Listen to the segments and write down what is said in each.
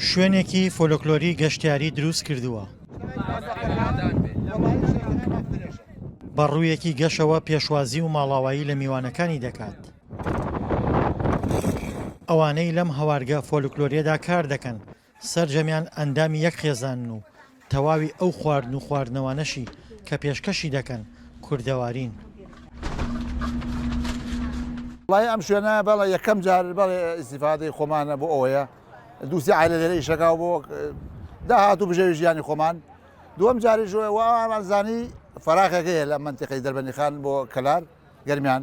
شوێنێکی فۆلۆکلۆری گەشتیاری دروست کردووە بە ڕوویەکی گەشەوە پێشوازی و ماڵاوایی لە میوانەکانی دەکات ئەوانەی لەم هەوارگە فۆلکلۆریەدا کار دەکەن سەرجەمیان ئەندامی یەک خێزانن و تەواوی ئەو خواردن و خواردنەوانەشی کە پێشکەشی دەکەن کوردەوارین. وەڵاهی ئەم شوێنە بەڵێ یەکەم جار بەڵێ ئیسیفادەی خۆمانە بۆ ئەوەیە دووسی عیلە لێرە ئیشەکە بۆ داهات و بژێوی ژیانی خۆمان دووەم جاری ژۆە و ئامانزانی فراغەکەی لە منتیقی دەربەنیخان بۆ کەلار گەرمیان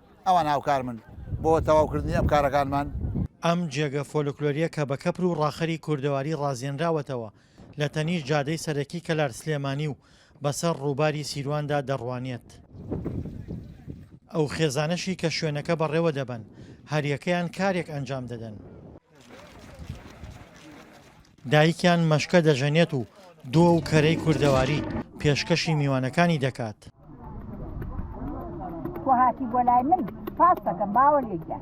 ئەوان هاوکارمن بۆ تەواوکردنی ئەم کارەکانمان. ئەم جێگە فۆلکلۆرییە کە بە کەپر و ڕاخەری کوردەواری ڕازێنراوەتەوە لە تەنیشت جادەی سەرەکی کەلار سلێمانی و بەسەر ڕووباری سیرواندا دەڕوانێت. ئەو خێزانەشی کە شوێنەکە بەڕێوە دەبەن هەریەکەیان کارێک ئەنجام دەدەن. دایکیان مەشکە دەژەنێت و دۆ و کەرەی کوردەواری پێشکەشی میوانەکانی دەکات. تۆ هاتی بۆ لای من پاس دەکەم باوە لێکدا.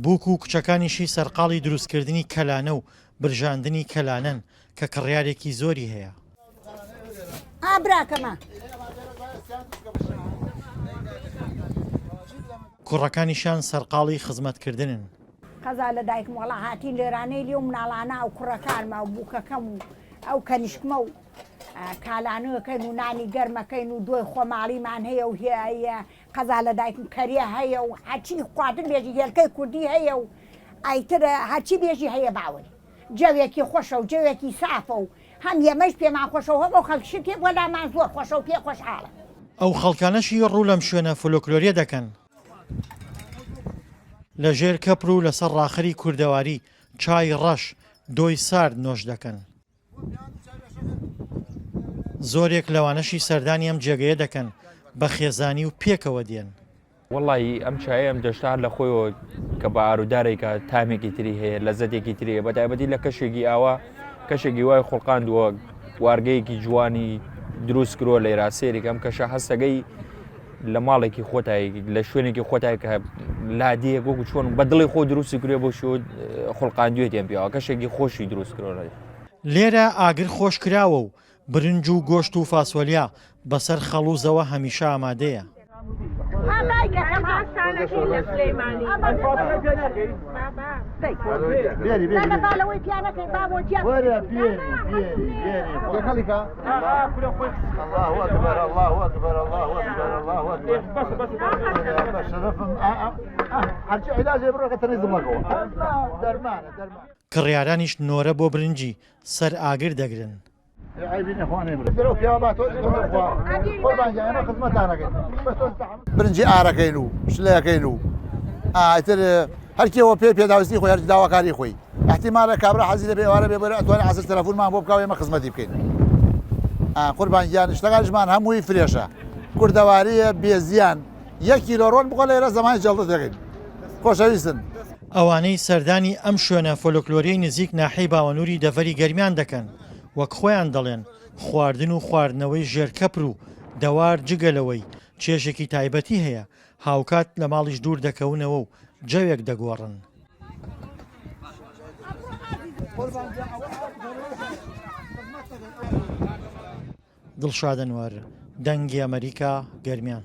بووک و کچەکانیشی سەرقاڵی دروستکردنی کەلانە و برژاندنی کەلانەن کە کڕیارێکی زۆری هەیە. ئا براکەمە. کوڕەکانیشیان سەرقاڵی خزمەتکردنن. قەزا لە دایکم وەڵا هاتین لێرانەی لێو مناڵانە ئەو کوڕەکانمە و بووکەکەم و ئەو کەنیشکمە و کالانوەکەین و نانی گەرمەکەین و دۆی خۆماڵیمان هەیە و هەیە قەزا لە دایکم کەریە هەیە و هەچی خواتر بێژی هێلکەی کوردی هەیە و ئایتر هەچی بێژی هەیە باوەی جەوێکی خۆشە و جەوێکی سافە و هەم ئێمەش پێمان خۆشە و هەم ئەو خەڵکیشی پێ بۆ لامان زۆر خۆشە و پێی خۆشحاڵن. ئەو خەڵکانەشی ڕوو لەم شوێنە فۆلۆکلۆریە دەکەن. لە ژێر کەپر و لەسەر ڕاخەری کوردەواری، چای ڕەش، دۆی سارد نۆش دەکەن. زۆرێک لەوانەشی سەردانی ئەم جێگەیە دەکەن، بە خێزانی و پێکەوە دێن. وەڵایی ئەم چایە ئەم دەشتا هەر لە خۆیەوە کە بە ئارودارێکە تامێکی تری هەیە لە زەتێکی ترەیە بە تایبەتی لە کەشێکی ئاوا کەشێکی وای خوڵقاندووە وارگەیەکی جوانی دروست کرۆ لێرا سێریک ئەم کەشە هەستەکەی لە ماڵێکی خۆتایی لە شوێنێکی خۆتای کە لادیە گۆک چۆن بە دڵی خۆ دروستی کرێ بۆ شو خوڵقاندوێتیان پیاوە کەشێکی خۆشی دروست کرۆنەوە. لێرە ئاگر خۆش کراوە و برنج و گۆشت و فاسۆلیا بەسەر خەڵوزەوە هەمیشە ئامادەیە. کڕیارانیش نۆرە بۆ برنجی سەر ئاگر دەگرن. برنجی ئارەکەین و شلەکەین و ئیتر هەر کێ وە پێ پێداویستی خۆی هەر داواکاری خۆی احتیمالە کابرا حەزی لە بێوارە بێ بەرە ئەتوانێت عسر تەلەفونمان بۆ بکاو ئێمە خزمەتی بکەین قوربان گیان شتەکانشمان هەمووی فرێشە کوردەواریە بێزیان یەکی لۆڕۆن بخۆ لە ئێرە زەمانی جەڵدە دەگەین خۆشەویستن ئەوانەی سەردانی ئەم شوێنە فۆلۆکلۆریەی نزیک ناحیەی باوەنووری دەڤەری گەرمیان دەکەن وەک خۆیان دەڵێن خواردن و خواردنەوەی ژێر کەپر و دەوار جگە لەوەی چێژێکی تایبەتی هەیە هاوکات لە ماڵیش دوور دەکەونەوە و جەوێک دەگۆڕن. دڵشاد ئەنوەر، دەنگی ئەمەریکا، گەرمیان.